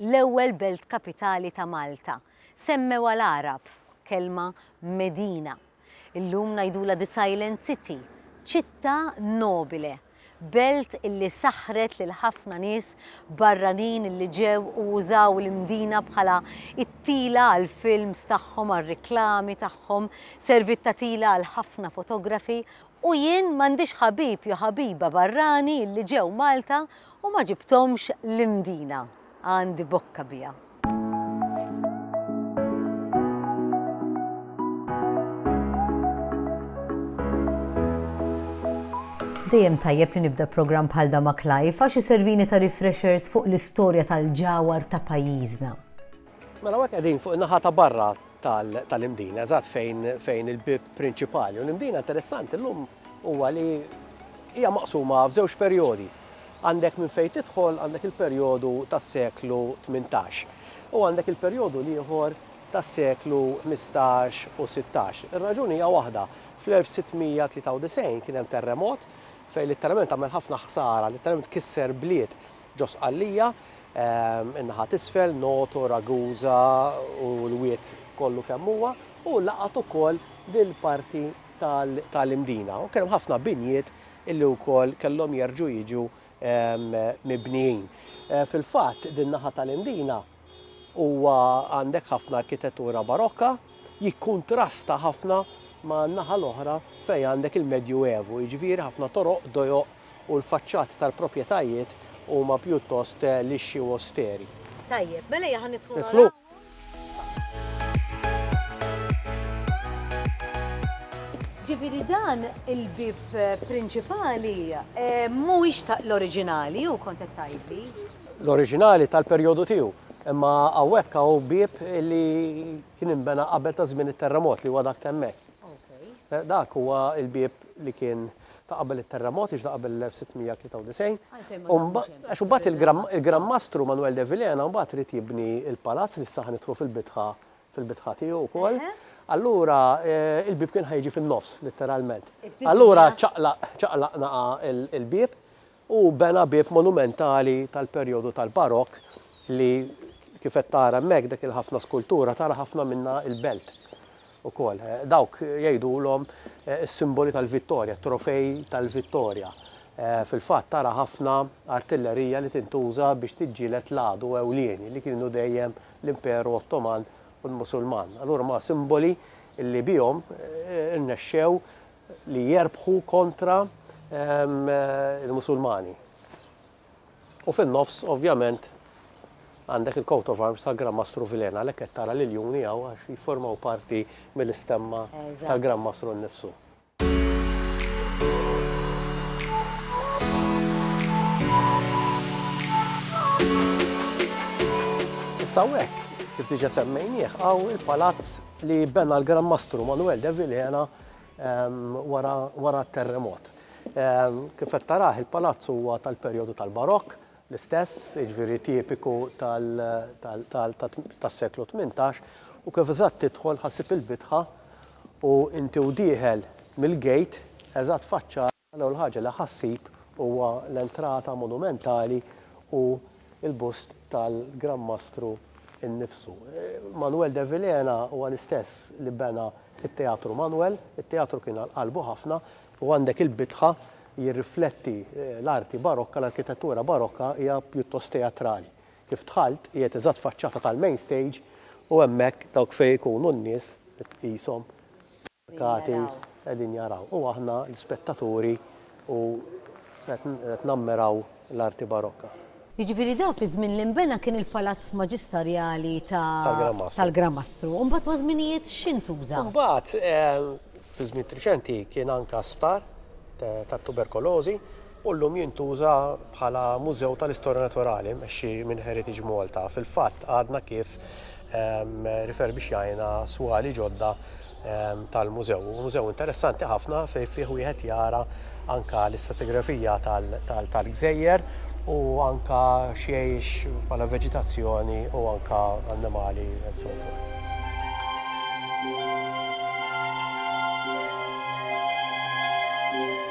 l-ewwel belt kapitali ta' Malta, semmewha l-Għarab, kelma Medina. Illum ngħidulha the silent city, ċittà nobile, belt li saħħret lil ħafna nies barranin li ġew u użaw il-Mdina bħala t-tila għall-films tagħhom, għar-riklami tagħhom, serviet ta' tila għal ħafna fotografi U jien m'għandix ħabib jew ħabiba barrani li ġew Malta u ma ġibthomx l-Imdina. Għandi bokka biha. Dejjem tajjeb li nibda programm bħal dan ma' Clive għax iservini ta' refreshers fuq l-istorja tal-ġawhar ta' pajjiżna. Mela hawnhekk qegħdin fuq in-naħa ta' barra tal-Imdina, eżatt fejn fejn il-bieb prinċipali. U l-Imdina interessanti llum huwa li hija maqsuma f'żewġ perjodi. Għandek minn fejn tidħol għandek il-perjodu tas-seklu 18 u għandek il-perjodu l-ieħor tas-seklu 15 u 16. Ir-raġuni hija waħda, fl-1693 kien hemm terremot fejn litteralment għamel ħafna ħsara, litteralment kisser bliet Ġo Sqallija, in-naħa t'isfel, Noto, Ragusa u l-Wied kollu kemm huwa, u laqgħet ukoll dil-parti tal-Imdina. U kien hemm ħafna binjiet illi wkoll kellhom jerġgħu jiġu mibnijin. Fil-fatt, din-naħa tal-Imdina huwa għandek ħafna arkitettura barokka, jikkuntrasta ħafna man-naħa l-oħra fejn għandek il-Medju Evu, jiġifieri ħafna toroq, dojoq u l-faċċati tal-proprjetajiet huma pjuttost lixxi u osteri. Tajjeb, mela ejja ħa nidħlu naraw. Ġifieri dan il-bieb prinċipali mhuwiex ta' l-oriġinali, hu kont qed tgħidli? l-oriġinali tal-perjodu tiegħu. Imma hawnhekk hawn bieb li kien inbena qabel ta' żmien it-terremot li huwa dak temmek. Eh, dak huwa il-bieb li kien ta' qabel it-terremot, iġda qabel l-1693. Għax mbagħad il-Gran Mastru Manuel de Vilena mbagħad rrit jibni il-palazz li saħan itru fil-bitħa fil-bitħa tiegħu wkoll. Allura eh, il-bib kien ħajġi fin-nofs, letteralment. Allura ċaqlaqna il-bib u bena bieb monumentali tal-perjodu tal-Barokk li kif qed tara hemmhekk dik il-ħafna skultura tara ħafna minnha l-belt ukoll. Dawk jgħidulhom is-simboli tal-vittorja, it-trofej tal-vittorja. Fil-fatt tara ħafna artillerija li tintuża biex tiġġieled l-għadu ewlieni li kienu dejjem l-Imperu Ottoman u l-Musulman. Allura huma simboli li bihom irnexxew li jerbħu kontra il-Musulmani. U fin-nofs, ovvjament, għandek il-coat of arms tal-Gran Mastru Vilena, l qed tara l-iljuni għaw għax jiformaw parti mill-istemma tal-Gran Mastru nnifsu. Issa hekk, kif diġa semmejnieh, għaw il-palazz li bena l-Gran Mastru Manuel de Vilena wara t-terremot. Kif qed tarah, il-palazz huwa tal-perjodu tal-Barokk, l-istess, jiġifieri tipiku tas-seklu tmintax, u kif eżatt tidħol ħa ssib il-bitħa u inti u dieħel mill-gate eżatt faċċat L-ewwel ħaġa li ħa ssib huwa l-entrata monumentali u l-bust tal-Gran Mastru nnifsu. Manuel de Vilhena huwa l-istess li bena t-Teatru Manuel. It-teatru kien għal qalbu ħafna u għandek il-bitħa jirrifletti l-arti barokka, l-arkitettura barokka hija pjuttost teatrali. Kif dħalt, qiegħed eżatt faċċata tal-main stage u hemmhekk dawk fejn ikunu n-nies qishom. Qegħdin jaraw. Qegħdin jaraw. U aħna l-ispettaturi u qed qed nammiraw l-arti barokka. Jiġifieri dan fi żmien li nbena kien il-palazz maġistarjali ta' Tal-Gran Mastru. tal-Gran Mastru. U mbagħad maż-żminijiet x'intuża? Mbagħad fi żmien triċenti kien anka sptar tat-tuberkolożi. u llum jintuża bħala mużew tal-istorja naturali mmexxi minn Heritage Malta. Fil-fatt għadna kif riferbixxajna swali ġodda tal-mużew. Hu mużew interessanti ħafna fejn fih wieħed jara anke l-istratigrafija tal-gżejjer u anke x'jgħix bħala veġitazzjoni u anke annimali and so forth.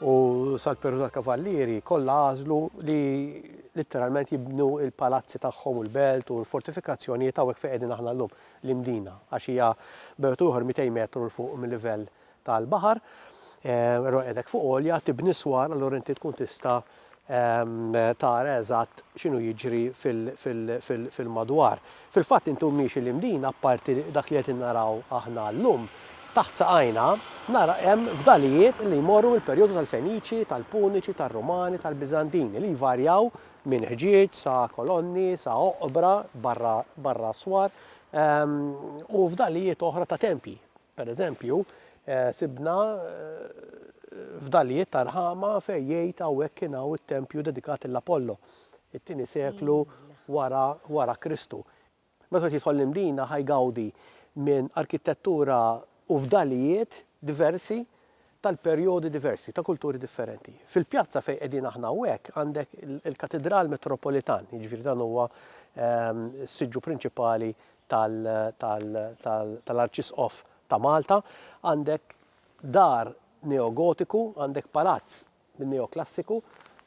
U sal-Perù tal-Kavallieri kollha għażlu li litteralment jibnu l-palazzi tagħhom u l-belt u l-fortifikazzjonijiet hawnhekk fejn qegħdin aħna llum, l-Imdina, għax hija b'wieħed u ieħor 200 metru 'l fuq mil-livell tal-baħar. Però qiegħda hekk fuq għolja, tibni s-swar, allura inti tkun tista' tara eżatt x'inhu jiġri fil-madwar. Fil-fatt inti u miexi 'l hemm din, apparti dak li qed innaraw aħna llum, taħt saqajna nara hemm fdalijiet li jmorru mill-perjodu tal-Feniċi, tal-Puniċi, tar-Rumani, tal-Biżantini li jvarjaw minn ħġieġ sa kolonni sa oqbra barra barra aswar u fdalijiet oħra ta' tempji. Per eżempju, sibna fdalijiet ta' rħama fejn jgħid hawnhekk kien hawn it-tempju dedikat lil Apollo, it-tieni seklu wara Kristu. Meta wieħed jidħol l-Imdina ħa jgawdi minn arkitettura u fdalijiet diversi tal-perjodi diversi, ta' kulturi differenti. Fil-pjazza fejn qegħdin aħna hawnhekk għandek il-Katidral Metropolitan, jiġifieri dan huwa s-siġġu prinċipali tal-Arċisqof ta' Malta, għandek dar neogotiku, għandek palazz min-Neoklassiku.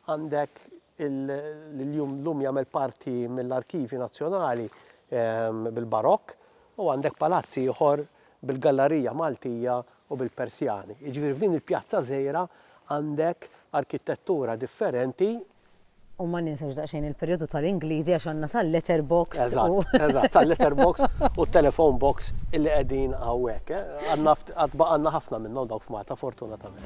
Għandek li llum jagħmel parti mill-Arkivji Nazzjonali bil-Barokk u għandek palazz ieħor bil-Gallarija Maltija u bil-Persjani. Jiġifieri f'din il-pjazza żgħira għandek arkitettura differenti U ma ninsewx daqsxejn il-perjodu tal-Ingliżi għax għandna sal-letter box. Eżatt, eżatt, sal-letter box u t-telephone box illi qegħdin hawnhekk. Għad baqgħalna ħafna minnhom dawk f'Malta fortunatament.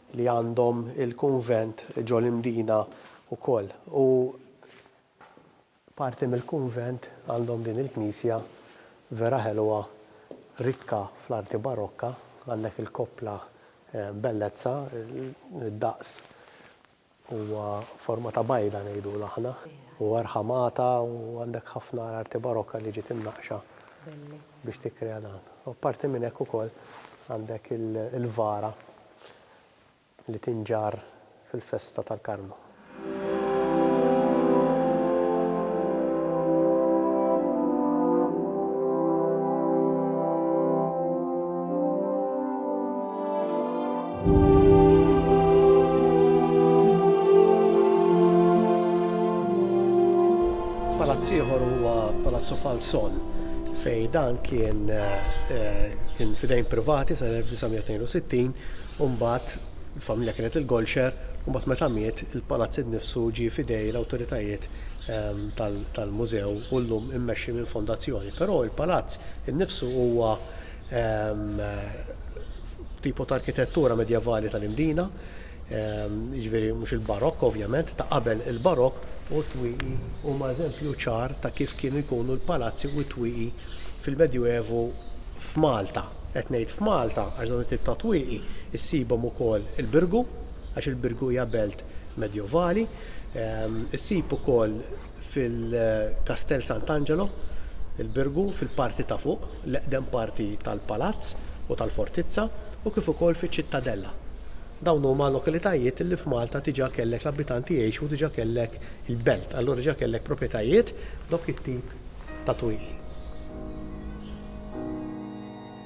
li għandhom il-kunvent ġo l-Imdina wkoll u parti mill-kunvent għandhom din il-knisja vera ħelwa rikka fl-arti barokka, għandek il-koppla bellezza, id-daqs Huwa forma ta' bajda ngħidulu aħna. Huwa rħamata u għandek ħafna arti barokka li ġiet imnaqqxa biex tikkrea dan. U apparti minn hekk ukoll għandek il-vara li tinġarr fil-festa tal-Karmnu. Palazz ieħor huwa Palazzo Falsol fej dan kien eh, kien fidejn privati sa 1962 u mbagħad il-familja kienet il-Golxer u mbagħad meta miet il-palazz innifsu ġie fidej l-awtoritajiet ehm, tal-mużew u llum immexxi minn fondazzjoni. Però il-palazz innifsu huwa B'tipu ta' arkitettura medjevali tal-Imdina, jiġifieri mhux il-Barokk ovvjament, ta' qabel il-Barokk, u t-twieqi huma eżempju ċar ta' kif kienu jkunu l-palazzi u t-twieqi fil-Medjuevu f'Malta. Qed ngħid f'Malta għax dawn it-tip ta' twieqi ssibhom ukoll il-Birgu, għax il-Birgu hija belt medjevali. Issib ukoll fil-Kastell Sant'Angelo, il-Birgu, fil-parti ta' fuq, l-eqdem parti tal-palazz u tal-fortizza, u kif ukoll fiċ-Ċittadella. Dawn huma lokalitajiet li f'Malta diġà kellek l-abitanti jgħixu u diġà kellek il-belt, allura diġà kellek propjetajiet b'dawk it-tip ta' twieqi.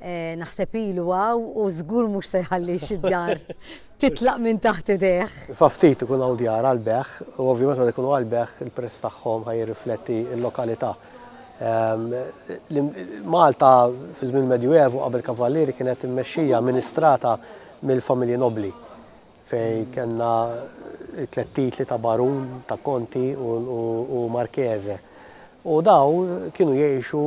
Naħseb ilu hawn u żgur mhux se jħalli xi djar titlaq minn taħt idejh. Fa' ftit ikun hawn djar għall-bejgħ u ovvjament meta jkunu għall-bejgħ il-prezz tagħhom ħa jirrifletti l-lokalità. Malta fi żmien il-Medjuevu qabel Kavallieri kienet immexxija, amministrata mill-familji nobbli. fejn kellna t-tliet titli ta' barun, ta' konti u marchese. U dawn kienu jgħixu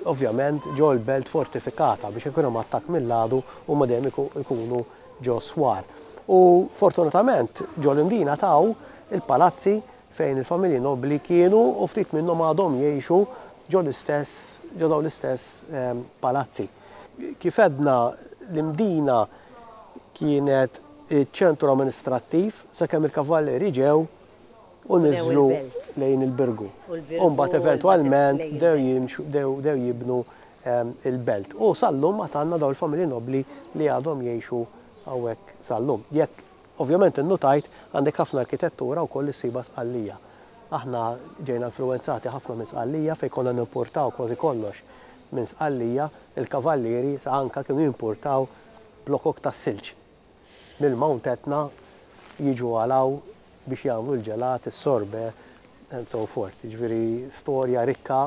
ovvjament ġo l-belt fortifikata biex jekk ikun hemm attakk mill-għadu huma dejjem ikunu ġo s-swar. U fortunatament ġo l-Imdina taw il-palazzi fejn il-familji nobbli kienu u ftit minnhom għadhom jgħixu ġo l-istess ġo dawn l-istess palazzi. Kif għedna, l-Imdina kienet iċ-ċentru amministrattiv sakemm il-Kavallieri ġew u niżlu lejn il-Birgu u mbagħad eventwalment bdew jibnu l-Belt. U sal-lum għad għandna dawn il-familji nobbli li għadhom jgħixu hawnhekk sal-lum. Jekk. Ovvjament innutajt għandek ħafna arkitettura wkoll li ssibha Sqallija. Aħna ġejna influwenzati ħafna minn Sqallija fejn konna nimpurtaw kważi kollox minn Sqallija. Il-Kavallieri sa anke kienu jimpurtaw blokok tas-silġ mill-Mount Etna jiġu għal hawn biex jagħmlu l-ġelat, is-sorbet and so forth. Jiġifieri storja rikka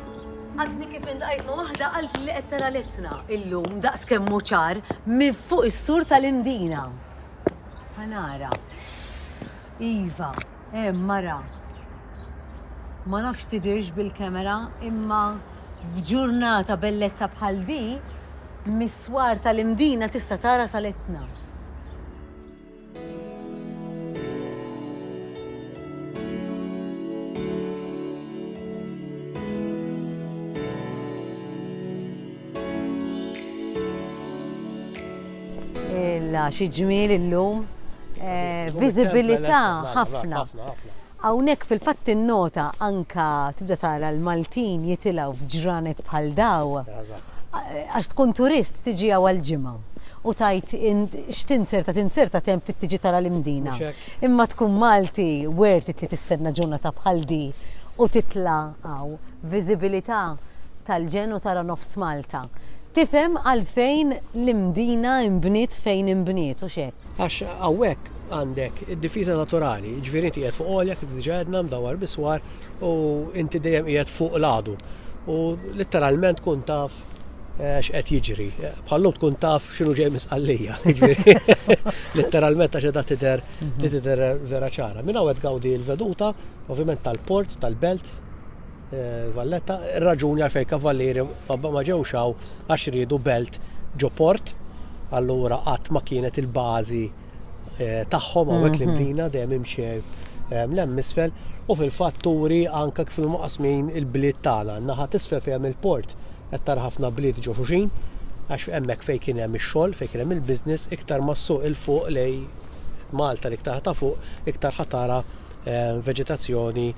Għadni kif intqajt ma' waħda qaltli li qed tara l-Etna illum daqs kemm hu ċar minn fuq is-sur tal-Imdina. Ħa nara. Iva, hemm mara. Ma nafx tidirx bil-kamera imma f'ġurnata bellezza bħal di, mis-swar tal-Imdina tista' tara sal-Etna. Illa, xi ġmiel illum. Eh, viżibilità ħafna. Hawnhekk fil-fatt tinnota anke tibda tara l-Maltin jitilgħu f'ġranet bħal daw. Għax tkun turist tiġi hawn għal ġimgħa u tgħid x'tinzerta tinzerta temp trid tiġi tara l-Imdina. Imma tkun Malti worth it li tistenna ġurnata bħal di u titla' hawn. Viżibilità tal-ġenn u tara nofs Malta. Tifhem għalfejn l-Imdina inbniet fejn inbniet, hux hekk? Għax hawnhekk Għandek id-difiża naturali, jiġifieri inti qiegħed fuq għolja kif diġà għedna mdawwar biswar u inti dejjem qiegħed fuq l-għadu. U litteralment tkun taf eh, x'qed jiġri. Bħallum tkun taf x'inhu ġej misqallija. Jiġifieri, litteralment għax qiegħda tidher tidher vera ċara. Minn hawn qed gawdi l-veduta, ovvjament tal-port, tal-belt, eh, Valletta, raġuni għalfejn kavallieri ma ma ġewx hawn għax riedu belt ġo port, allura qatt ma kienet il-bażi tagħhom hawnhekk li mdina dejjem imxej l-hemm misfel u fil-fatt turi anke kif maqasmin il-bliet tagħna. Naħa tisfel fejn hemm il-port qed tara ħafna bliet ġo xuxin għax hemmhekk fejn kien hemm ix-xogħol, fejn kien hemm il-business iktar mas-suq il-fuq lej Malta li iktar ta' fuq iktar ħatara veġetazzjoni,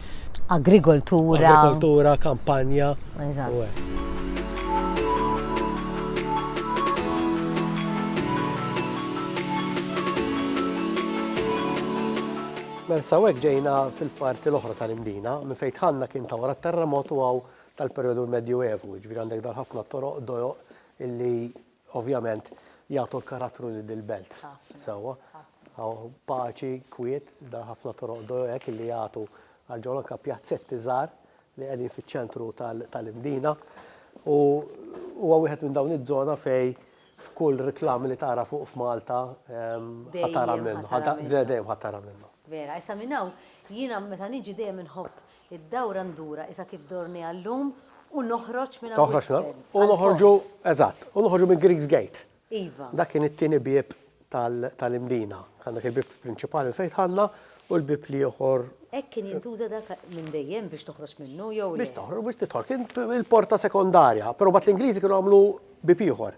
agrikoltura, agrikoltura, kampanja. Mela sawek ġejna fil-parti l-oħra tal-Imdina, minn fejn tħanna kien ta' wara t-terremot u għaw tal-perjodu medju evu, ġviri għandek dal-ħafna toroq, dojoq illi Ovvjament jagħtu l-karattru li dil-belt. Sewwa. Hawn paċi, kwiet, da ħafna toroq do hekk li jagħtu għal ġol anke pjazzetti żgħar li qegħdin fiċ-ċentru tal-Imdina. U huwa wieħed minn dawn iż-żona fej f'kull reklam li tara fuq f'Malta ħatara minnu. Dejjem ħatara minnu. Vera, issa minn hawn jiena meta niġi dejjem inħobb Id-dawra ndurha isa kif dorniha llum u noħroġ minn hawn isfel. U noħorġu, eżatt, u noħorġu minn Greeks Gate. Iva. Dak kien it-tieni bieb tal-Imdina. Kien dak il-bieb prinċipali minn fejn dħalna u l-bieb l-ieħor. Hekk kien jintuża dak minn dejjem biex toħroġ minnu jew le? Biex toħroġ, biex tidħol. Kien il-porta sekondarja, però mbagħad l-Ingliżi kienu għamlu bieb ieħor.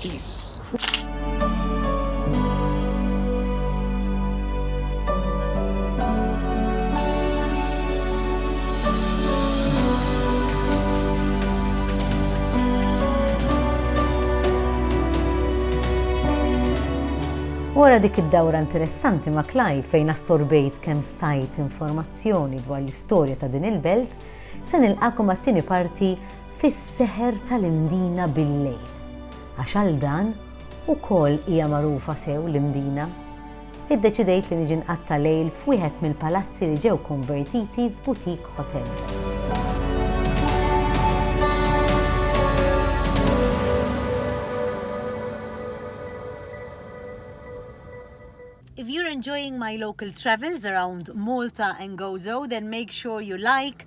Peace. Wara dik id-dawra interessanti ma' Klaj fejn assorbejt kemm stajt informazzjoni dwar l-istorja ta' din il-belt, se nilqakom għat-tieni parti fis-seħer tal-Imdina bil-lejl, għax għal dan ukoll hija magħrufa sew l-Imdina, iddeċidejt li niġi nqatta' lejl f'wieħed mill-palazzi li ġew konvertiti f'boutique hotels. If you're enjoying my local travels around Malta and Gozo then make sure you like,